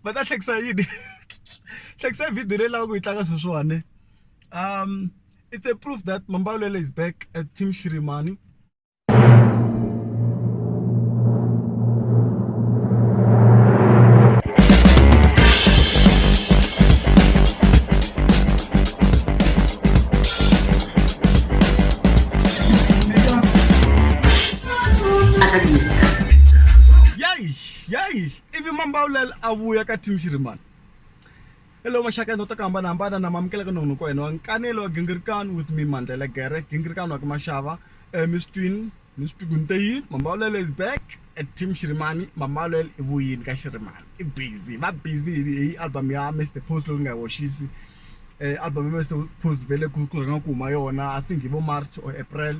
va ta hlekisa yini hlekisa video leyi lavaka ku yi tlanga sweswiwani um it's a proof that mambawulelo is back at team shirimani a ka dumela yaish yaish ivi mambawulela a vuya ka tim xirimani hello maxaka ya nota ku hambanahambana na mamukela ka nongonoko wa hina wa nkanelo wa gingirikani with me mandlela gere gingirikani wa ka maxava um miss twin miss tugunteyin mambawulela is back at tim xirimani mambawulela i vuyini ka xirimani i busy va busy hi hi album ya mr post loyi ni nga yi hoxisi um album ya mr post vele ku ku rhanga ku huma yona i think hi vo march or april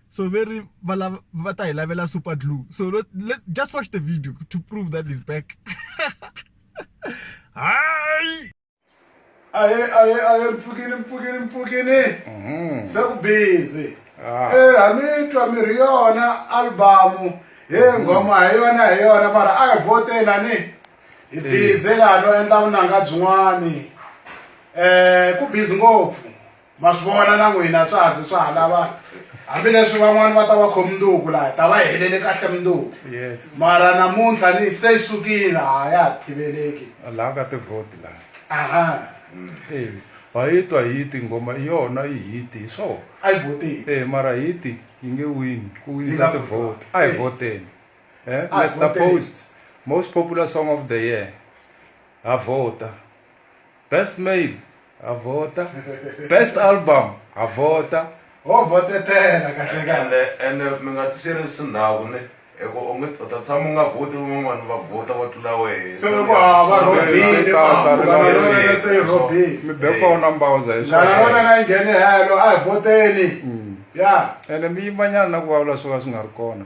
so ve ri va lava va ta hi lavela super glue so let, let, just watch the video to prove that is back hayi aye aye aye mpfukini mpfukini mpfukini mhm. se ku busy ah. eh ha mi twa mi ri yona album he mhm. ngoma hi yona hi yona mara a hi vote lani hi eh. busy lano endla vunanga byin'wani eh ku busy ngopfu ma swi vona na n'wina swa ha ze swa ha lava hambileswi van'wani va ta va khomi nduku laha ta va helele kahle munduku mara namuntlha ni se yi sukile ha ya ha thiveleki laha ka tivhoti laha aha ha yi twa hi ti nghoma i yona yi hiti hi swona a yi vhoteni e mara hiti yi nge wini ku winisa tivhoti a hi vhoteni um let's the post most popular song of the year ha vhota best male ha vhota best album ha vhota ho vhotetela kahlekahle ene mi nga tiserisi ndhawu ne eku u nge u ta tshama u nga vhoti van'wana va vhota va tlula wehe se loko hava robini se robini mi be kona mbawuza hi swona lana wena na yi nghene helo a hi vhoteni ya ene mi yimanyana na ku vulavula swo ka swi nga ri kona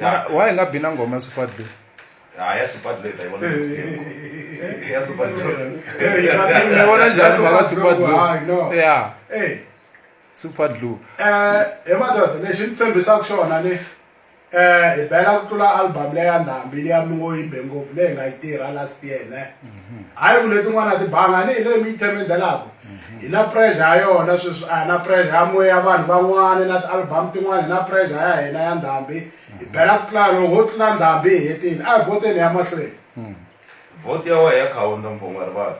mara why hi nga bi na ngoma ya supad leyi Ah, ya supad leyi ta yi vona next year. ya supad ni vona njhani mhaka supad Hayi, Ah, no. lu ya Hey. supad lu Eh, he madoda lexi ni tshembisaka xona ni eh hi bela ku tlula album leya ndhambi liya mi ngo yi be ngopfu leyi nga yi tirha last year ne hayi ku letin'wana tibanga ni hi leyi mi yi themendelaku hi na pressure ya yona sweswi a hi na pressure ya moya ya vanhu van'wana na ti-album tin'wana hi na pressure ya hina ya ndhambi hi bela ku tlula loko ho tlula ndhambi hi hetile a hi voteni ya mahlweni vote ya wehe ya khawunta mfungwarivala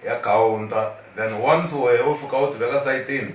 ya khawunta then once wehe u fika u ti veka sayitini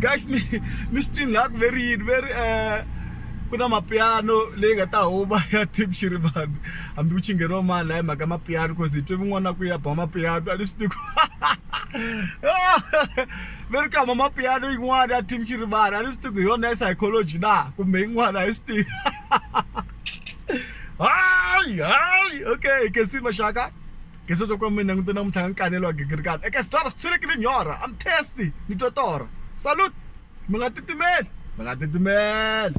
guys mi mi swi twini laha ku ve ri yini ve ri um ku na mapiano leyi nga ta huma ya team xirivani hambi ku chingeriwa mali laha hi mhaka mapiano cause hi twe vin'wana ku ya ba mapiano a ni swi tiku ve ri kama mapiano yin'wana ya team xirivani a ni swi tiku hi yona ya psychology na kumbe yin'wana a hi swi tivi hayi hayi okay ke si maxaka ke se swa ku mi langute namuntlha nga nkanelo wa gigirikana eka sitora swi tshulekile nyorha am tasty ni twa torha salute mi nga titimeli mi nga titimeli